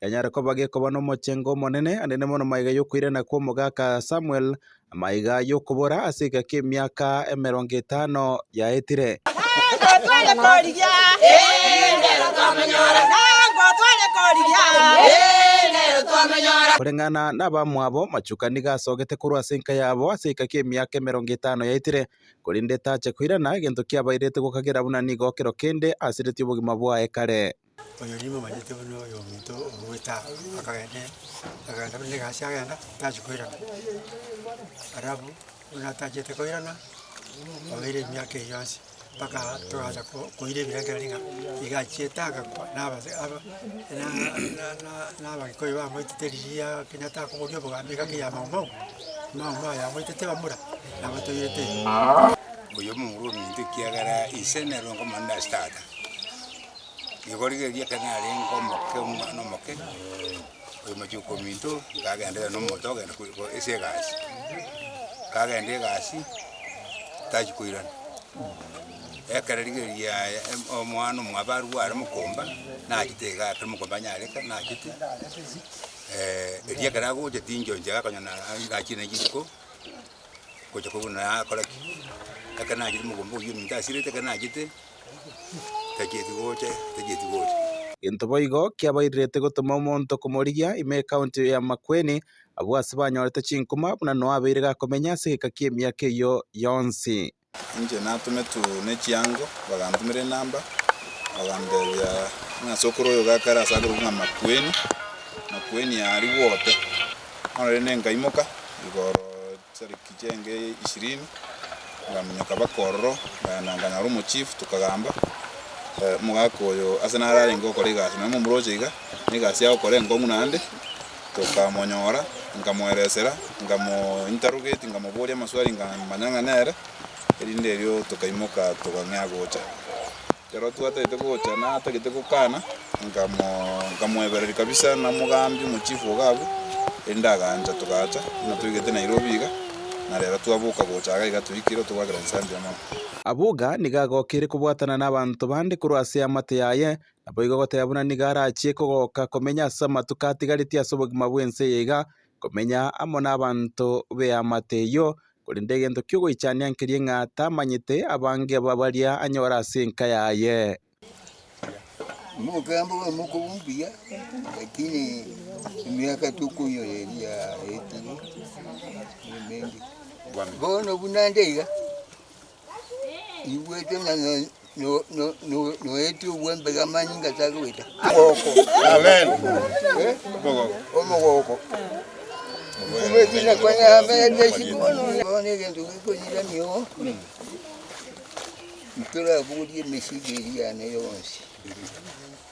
yanyare koba gekoba nomochengo omonene, ande nemono maiga yokoirana kw'omogaka Samuel, amaiga y'okobora ase egaki emiaka emerongo etano yaetire. Koreng'ana nabamwabo, machuka nigo asogete korwa ase enka yabo ase egaki emiaka emerongo etano yaetire, korende tache koirana egento kiabairete gokagera buna nigo kero kende asiretie obogima bwaye kare. Oyo nimomanyete buna oyominto ogoeta akagenda akagenda buna egasi agenda tachia koirana. Alafu buna atachete koirana, oire emiaka eye yonsi mpaka togacha ko koira ebirengererio ng'a iga achiete agakwa na abase aba na na na na abagikoi bamoetete rigiya kenyatta akoboria obogambi iga kiya maumau, maumau aya amoetete bamura nabo toirete iga. Oyo omong'ina ominto ekiagera ise nere onkomanya ase tata. Nigo rigereria ekero narenge omoke, omwana omoke, oyo machuko minto, nkagenderera na omonto ogenda kore kore ase egasi. Nkagenda egasi, tachi koirana, ekero rigereria yaya em- omwana omwabaru are mokomba, nachete iga ekero mokomba anyarete, nachete erio ekero agocha tinchoche iga akonyora na- ai nachire na rituko, gocha kobuna akora ki, ekero nachire mogombea oyio ominto asirete, ekero nachete. tacheti gocha, tacheti gocha. Gento boigo kiabairerete gotoma omonto komorigia ime ekaunti ya Makueni, abwo ase banyorete chinkuma buna Noa abeire gakomenya ase egeka ki'emiaka eyio yonsi. Inche natometwe ne chiango, bagantumera enamba, bagantebia ng'a ase okoroio gakare ase akorokigwa ng'a Makueni, Makueni aria gwote. Bono rende nkaimoka igoro Serikali. Inche inga eye ishirini ngaminyoka baka ororo, ngaenda nganyora omochifu, tokagamba, Omogaka oyo ase nare arenge okore egasi, nonye momoroche iga, na egasi agokora enkong'u naende. Tokamonyora, nkamoeresera, nkamointerrogate, nkamoboria amaswali nkamanya ng'a nere, erinde erio tokaimoka tokang'ea gocha. Herode atagete gocha na atagete gokana, nkamoebereria kabisa na mogambi omochifu ogo agwo, erinde agancha. Togacha, buna toigete Nairobi iga, na reero twaboka gocha iga iga toikire otogwagera ensambi y'amagoro. Abwo iga nigo agokeire kobwatana n'abanto bande korwa ase eamate yaye, naboigo goteba buna nigo arachie kogoka komenya ase amatuko atigaretie ase obogima bw'ense eye iga, komenya amo n'abanto b'eamate eyio, korende egento ki'ogoichania nkeria ng'a tamanyete abange baria anyore ase enka yaye. Omokembe oyo mokobu mbuya, lakini emiaka tokoinyora eria yaetire, nemengi. Bono buna nde iga, Nigwete ng'a noetie obwembega amanyinga achake goita. Omogoko. Amen. Omogoko. Mpira buri emesigo eri yane yonsi.